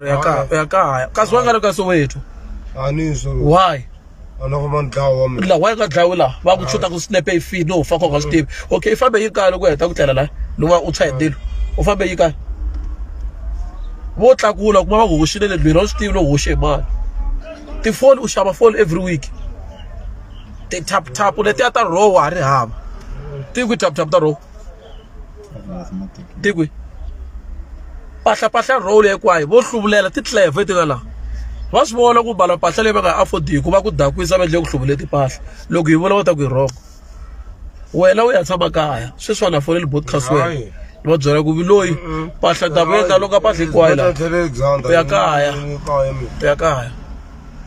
u ya kaya u ya kaya kasi wa nga ri ka soweto a ni swo why a loko va ni dlawa wa mina la wa nga dlawi laha va ku chuta ku snap e feed no fa koka swi tivi okay i fambe yi kaya loko u heta ku tlela la loko va- u tshwa hi ndilo u fambe yi kaya vo tlakula kuma va ku hoxile le ndlwini a wu swi tivi loko hoxe hi mali tifoni u xava foni every week ti-taptapu letiya ta roho wa ha ri hava ti ku tap tap ta roho ti kwi pahlapahla role hinkwayo vo hluvulela titleve ti nga laha va swi vona ku bala mpahla leyi va nga affordiki ku va ku dakwisa va endle ku hluvule timpahla loko hi vula va ta ku hi rhongo wena u ya tshama kaya sweswi va na foneli broadcast wena ni va byela ku viloyi mpahla dakweta loko a mpahla hinkwayo laha u ya kaya u ya kaya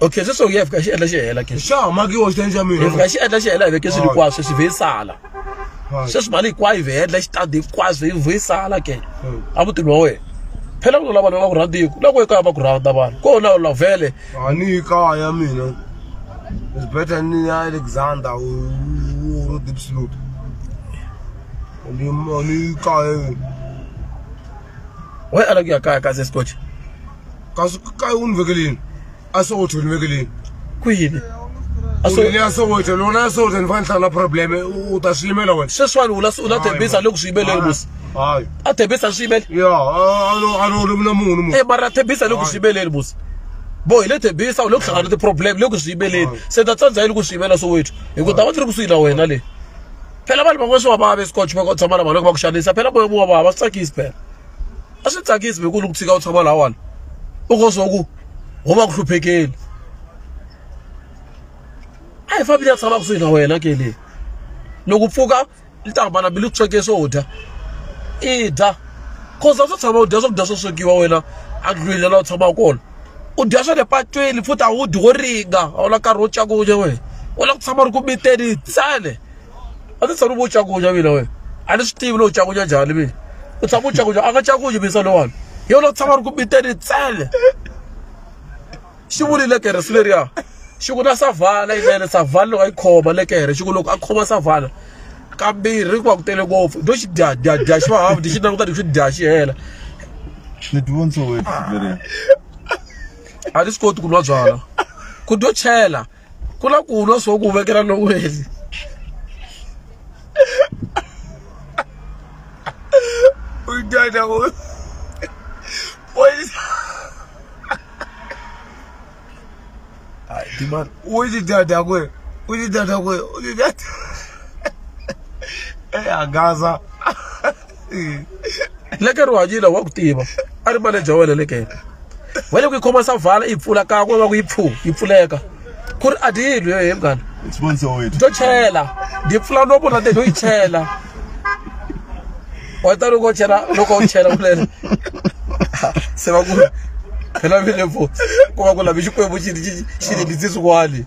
okay sweswo ya fika xi endla xi hela ke xa makiwa xi endla mina fika xi endla xi hela veke swi likwa sweswi ve sala sweswi mali hinkwayo ve endla xi tadi kwaz ve ve sala ke hmm. a vutini wa wena phela ku lava lava ku rhandiku loko ekaya va ku rhanda vanhu ko na la vele a ni kaya mina it's better ni ya Alexander u deep slope ni ni kaya wena ala ku ya kaya ka se scotch ka swi ka u ni vekelini a swi otho ni vekelini ku yini Uri liya sokothe lona sokothe nifane hlala problem u ta swi yimela wena sweswiwani u la u la thembisa loko swi yimeleni musi hayi a thembisa a swi yimele ya a no ri mina munhu munhu e mara a thembisa loko swi yimeleni musi bo hi le thembisa u le ku hlangana ni ti-problem loko swi yimeleni se ta tsandza yini ku swi yimela sowethu hi ku ta va ti ri kusuhi na wena leyi phela vanhu van'wana swi va vava escotch va tshama na vanhu loko va ku xanisa phela moya mu wa vava swi tsakisi phela a swi tsakisi beku loko tshika u tshama lawani u ko swa ku ho va ku hluphekeli a hi fambi ya tshama kusuhi na wena ke leyi loko pfuka yi ta hambana bili ku sweke swo dya i dya cause a swo tshama u dya swakudya swo swekiwa wena a ndlwini la u tshamaka kona u dya swa le patwini futhi a wu dyi wo ringa a wu la nkarhi wo cakunya wena u la ku tshama ri ku miteni tsale a ti tshami vo cakunya mina wena a ni swi tivi lowu cakunya njhani mina u tshama u cakunya a nga cakunyi misa lowani hi yona tshama ri ku biteni tsele xi vuli lekere swi leriya xi ku na savala yinene savala loko a yi khoma lekere xi ku loko a khoma savala kambirhi ku va ku tele ngopfu do xi dya dya dya xi va hafu ti xi languta ti xi dya xi hela ni tivontso wena a ti swi koti ku nwa byala ku do chela ku na ku lwa swo ku vekela loweli u dyana u poyisa u xi dyana ku u xi dyana ku u xi dyana e hangaza leke ri hanyile wa ku tiva a ri manager wena lekene wa le ku yi khoma savala yi pfula kan'we va ku yi pfu yi pfuleka ku ri a ti yi lwi yohe mngani to chela ndi pfula no vona te no yi chela wa ta loko chela loko u chela kulele se va ku phela vile vo ku va ku lavi xikwembu xi xi xi lindzi swin'wani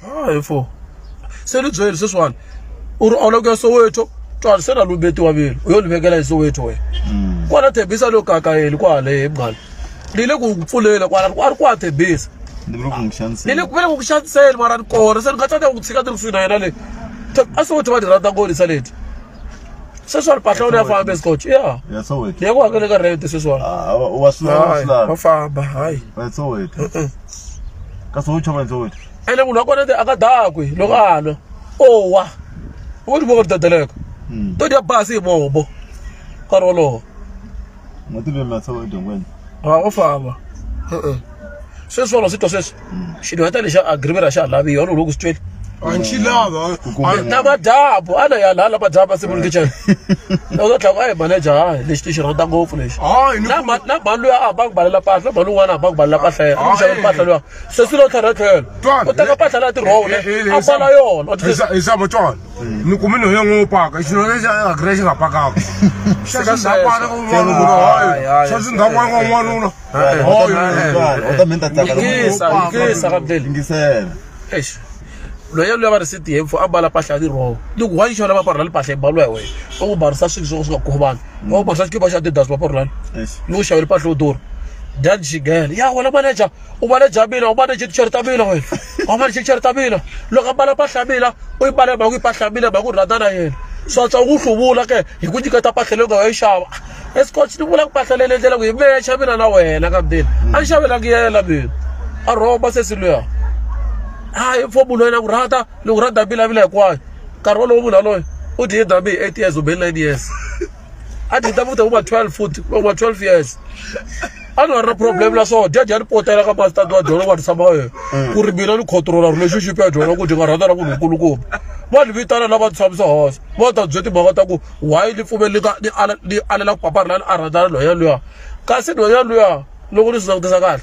hayi fo se ni byeli sweswiwani u ri ola ku ya soweto twani se na lumbetiwa velu u yo ni vekela hi soweto wena mm. kwana thembisa lo kakayeli kwalehe mngani ni le ku pfulela kwala a ri kwa thembisa ni le ku vele ku ku xaniseni mara ni kona se ni nga tsaka ku tshika ni ri swi na yena le a soweto va ni rhandza ngolisa leti sweswiwani patla wona ya famba escotch ya ya soweto ya ku hakela ka rent sweswiwani Ah, wa- wa swi lava wa swi hayi lava wa famba hayi Wa soweto Mm-mm. kasi wo chava soweto ene munhu wa kona ti aka dakwe loko a nwa owa u ti voko ri dadeleka Mm. to dya basi hi mombo nkarhi wolowo Motive mi atshava edyongweni. Ha u famba. Se swona swi twa sweswi. Xilo heta lexa agreement ra xa lavi yona loko swi twele. Anchilava. Na madabu ana ya la la madabu se mun kitchen. Na u tla ai manager ha lexi ti xirata ngopfu lexi. Hayi ni Na ma- na balu ya a ba ku balela pahla balu n'wana a ba ku balela pahla ya Ah, xava eh, pahla loya se swi lo tlhela tlhela Twana, u teka eh, pahla la ti rhole eh, eh, a bala yona u ti- Isa isa motwana. ni kumi no ya ngo paka xino lexi a gre xi nga pakaka xa xi nga paka ku n'wana ku hoyo xa xi nga paka ku n'wanuna hoyo u ta minta tsaka ngisa ngisa ka beli ngisela eish loyi luya va ri siti hemfo a mbala mpahla ya tiroho ni ku wa yi xona va parhula ni mpahla yi mbaliwa hi wena va ku barisa swilo swo swi nga khuvi vanhu va ku barisa xikipa xa tidas va parhulani ni ku xavela mpahla yo durha dyani xigele ya wena manager u vale bya mina u vale jiticheri ta mina wena u vale jiticheri ta mina loko a mbala mpahla ya mina u yi mbale mhaka yi mpahla ya mina mhaka u rhandza na yena swatswa u ku hluvula ke hi ku nyiketa mpahla leyi u nga yo yi xava escots ni vula ku mpahla leyi lendlela ku hi mexa mina na wena ka mdeni a ni xavelanga yela mina a rhomba sesi luya hayi fo munhu wena ku rhandza ni ku rhandza mbilavila hinkwayo nkarhi wolowo munhu yaloye u dye dami eight years kumbe nine years a ti ta vuta ku va 12 futhi va ku va 12 years a ni nga ri na problem na swona jaji a ni potela ka masitati wa dyona va ni tshama yena ku ri mina ni controla relationship ya dyona ku dyi nga rhandza na munhu nkulukumba va ni vitana lava ni tshamisa hosa va ta bye timhaka ta ku why ni pfumeli ka ni ala ni alela ku papara la ni a rhandzana loya luya kasi loya luya loko ni swi langutisa kahle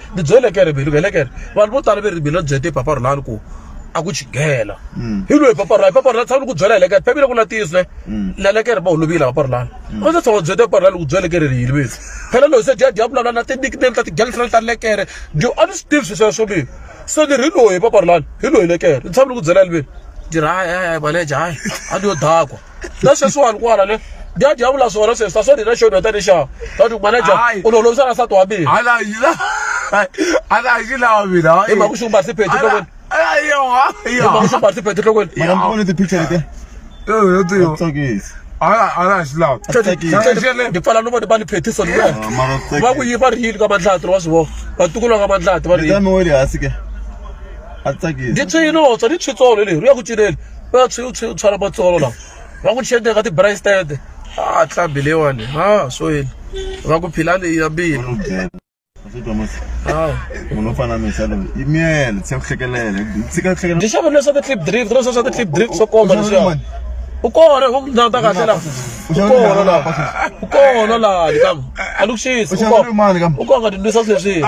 ni byele ke rivilo vele ke vanhu vo tala ve rivilo byete hi papa rulani ku a ku chigela mm. hi loyi papa rulani papa rulani tshama ku byela helekere bibele ku latiswe mm. lelekere va holovile papa rulani mm. a ndzi tshama byete papa rulani ku byele ke riri yini vese phela loyi se dya dya vulavula na ti-nickname ta ti-girlfriend ta lekere dyo a ni swi tivi swi sweswo lini se ni ri loyi papa rulani hi loyi lekere ni tshama ni ku byela liveni diraya maleja hayi a ni yo dakwa na sweswiwani kwala le ndya dya vula swona sweswi ta swo ni na xona tani xa tati manager Hayi. u lolovisa na nsati wa mina ala yila ala yila wa mina hayi. Ema kusho umbathe iphedi Ala- enhlokweni. ala yoha yoha makusumba siphethe enhlokweni Mara mfone ti picture leti. Yo, yo, yo. Tsakisi. ala ala yila ndipfala no vona va ni phethisa ni wena Ah, mara tsakisi. va ku yi va ri yini ka mandlati wa swi vona vatukulu va ka mandlati va ri Leta yini mi wele hansi ke. A tsakisi. ndzi tswinotswa ni tshwitsolo leri u ya ku cinela va tshuyu tshuyu tshwala matsolo lawa va n'wi chende ka ti-brace tete a tlambi leyiwani a swo yini va ku phila leyi ya mbili munhu u fana misa loyi i miyele tshika ku hlekelela tshika ku hlekelela ndzi xavile swa ti-clip drift leswa swa ti-clip drift swo komba leswiya u kona u ndhawu ta kahle laha u kona laha u kona laha kambe a ni ku xisi u kona u kona ka tindwisa sweswiya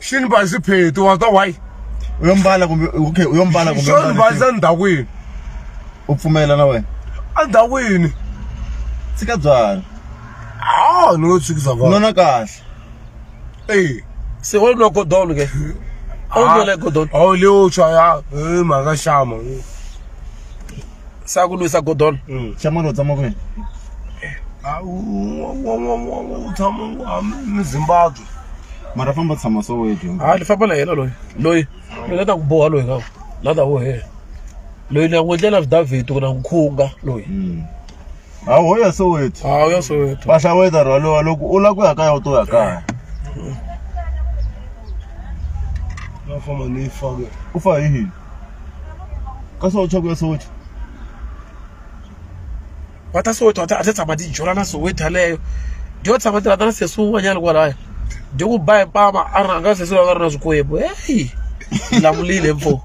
xi ni bazi pheti wa twa why u yo mbala kumbe okay u yo mbala kumbe xo ni bazi endhawini u pfumela na wena endhawini tshika byala a ni lo tshikiza vanhu nona kahle eyi se o nwa godolo ke a wu nwela godolo a wu le wo tshwa ya e mhaka xama sa ku lwisa godolo xama lo tshama kwini a wu tshama mi zimbabwe mara famba tshama so wehe dyondza ha lifamba la hela loyi loyi loyi la ta ku boha loyi ngaku la ta wo hela loyi ni ya n'wi endlela vidavhidi ku na n'wi khunga loyi ha ho ya so wetu ha u ya so wetu va hlaweta rhwalowa loko u lava ku ya kaya u to ya kaya va famba ni fake u fa hi hini ka so u chaka ya so wetu va ta soweto a ti tshama ti jola na soweto yaleyo dyo tshama ti rhandza na sesi wun'wanyana kwalaya dyo ku ba hi mpama a ri rhanga sesi loyi a ri na swikwembu heyi lamulile mfo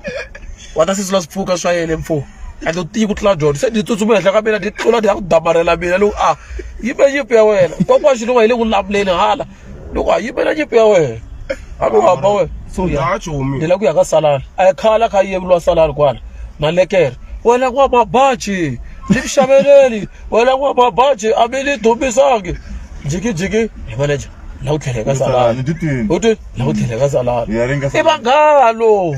wa ta sesi la swipfuka swa yele mfo and u tiyi ku tlula dyondzo se ni tsutsuma henhla ka mina ni tlula ni ya ku damarhela mina loku a yime nyimpi ya wena kokwaxi lowa hi le ku lamuleni hala loko a yimela nyimpi ya wena a ku hamba wena suya Ndza chomi. ndlela ku ya ka salala a ya khala kha yevuriwa salala kwala na lekere wena n'wa mabaji ni ku xaveleli wena n'wa mabaji a mi ni dumisangi jikijiki hi manager la ku tlhela ka salala Ni titwini. u twi la ku tlhela ka salala Ya ringa i salala. vanghalo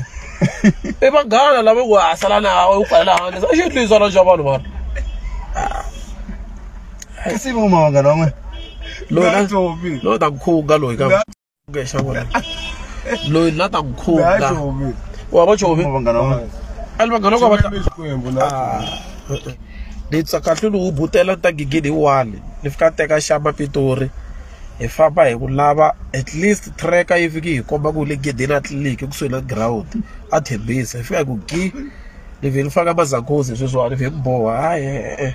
i vanghana lava ku hasala na u kwala handle a xi twisana xa vanhu vanhu kasi va kuma vanghana van'we loyi na tobi loyi ta khuga loyi ka ngexa vona loyi na ta khuga wa va chovi vanghana van'we ali vanghana va ta xikwembu na ni tsakahle lowu butela ta gigidi wani ni fika teka xama pitori hi famba hi ku lava at least tracker yi fiki hi komba ku le gedeni a tliliniki kusuhi na ground a thembisa hi fika hi ku gi ni vhe ni faka mazakozi sweswiwani vhe ni boha hayi e-e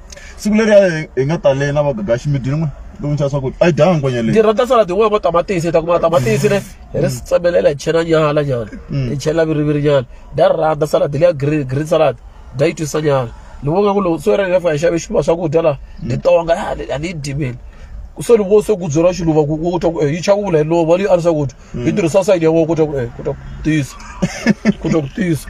siku leri a hi- hi nga tale na vagagaxi mi dyile n'we lowu nxava swakudya a yi dyanga ngwenya leyi ndzi rhandza salad yin'wana ya matamatisi hi ta kuma matamatisi le hi ri tsemelela hi chela nyala nyana hi chela viriviri nyana ndza ri rhandza salad leya green green salad ndza yi twisa nyana ni vonga ku lowu so yena lefa hi xave xiluva swakudya laha ni tonga "Ah, ni- a ni yi dimeli so ni vo se ku byela xiluva ku ku twa ku eh, yi chakula hi lova leyi a ri swakudya yi tirhisa sayini ya wona ku twa ku eh, ku twa ku tisa ku twa ku tisa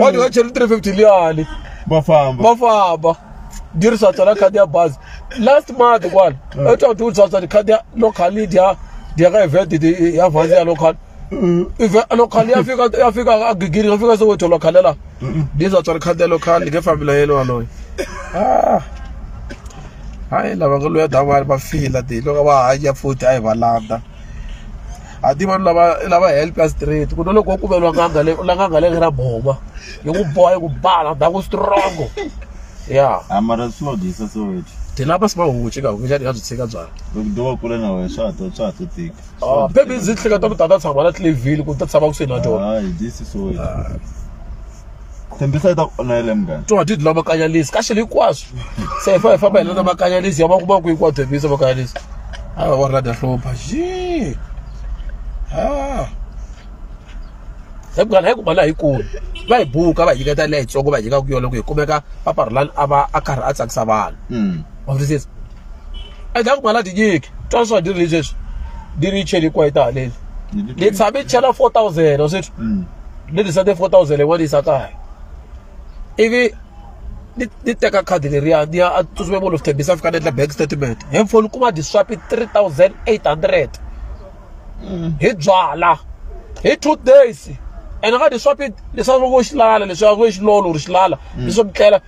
wa ti va cheri 350 liyani va famba va famba ndi ri swatsala khadi ya bazi last month kwala mm. etwa ti u swatsala khadi ya locali dya dya ka event ya vazi ya local mm. local ya fika ya fika a gigiri ya fika se wetho local la ndi swatsala khadi ya local ni nge fambi la yelo waloyo ah hayi lava nga loya davani va fila ti loko va hanya futhi a hi va landa a ti vanhu lava lava help ya straight ku na loko wo kumela n'anga le la n'anga le ra boma yi ku boha yi ku bala da ku strong ya amara swi va dyisa so wethu ti lava swi va hunguci ka hunguca ti nga byi tshika byala loko do wa kule na wena swa to swa to tika ah baby ndzi hleketa ku tata tshama la tlevile ku ta tshama ku swi na tona hi dyisi so wethu tshembisa yi ta ku onele munghana twa didi la makanyalisi kahle hinkwaswo se hi fa hi famba hi lana makanyalisi ya va kuma ku hinkwawo tshembisa makanyalisi a va ri rada hlopha xi ha se munghana hi kuma laha yi kulu va hi buka va hi nyiketa leyi tsongo va hi nyika ku yona ku hi kumeka paparhulani a va a karhi a tsakisa vanhu wa twisisa endzhaku mhala tinyiki twa swa diri leswi diri yi cheli kwayi ta haleni ni tshame ni chela four thousand wa sweswi mm. ni tirhisa te four thousand yin'wana yisa kaya ivi ni teka khadi leriya ni ya tsutsuma molo fithembisa a fika ni endla bank statement hi mfoni kuma diswapi three thousand eight hundred mm. hi byala hi two days ene ka diswapi leswaku vo xilala leswaku vo xilolo or xilala mm. leswo mi tlela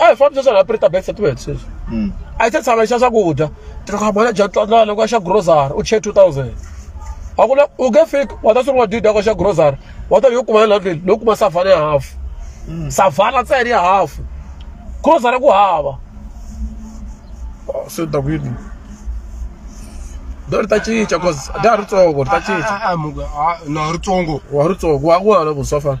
a hi fambi sweswi hi preta back set wena sweswi hmm. a yi se tshama xa swakudya tikamana dya tlanana loko xa grocery u chee two thousand a ku na u nge fiki wa ta sungula didi yako xa grocery wa ta yo kuma ya landleli no kuma savana ya hafu hmm. savana ntsena ya hafu grocery ku hava ah, se ta ku yini do ri ta cinca cause da ri tsongo ri ta cinca ah, ah, no ri tsongo wa ri tsongo wa ku hana ku swa fana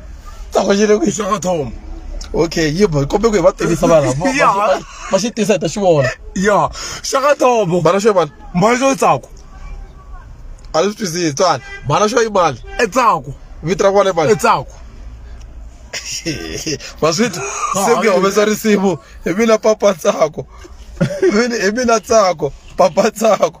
ta ku yile ku yi xaka thoma okay yi bo kombe ku hi va tivisa vana vo- Ya. va- va- va xi tisa hi ta xi vona ya xaka thoma bana xo mali mali yo tsako a leswi twisisi tswana bana xo yi mali e tsako vito ra kona i mali e tsako maswiti se ku ya humesa risimu hi mina papa tsako Hi mina- hi mina tsako papa tsako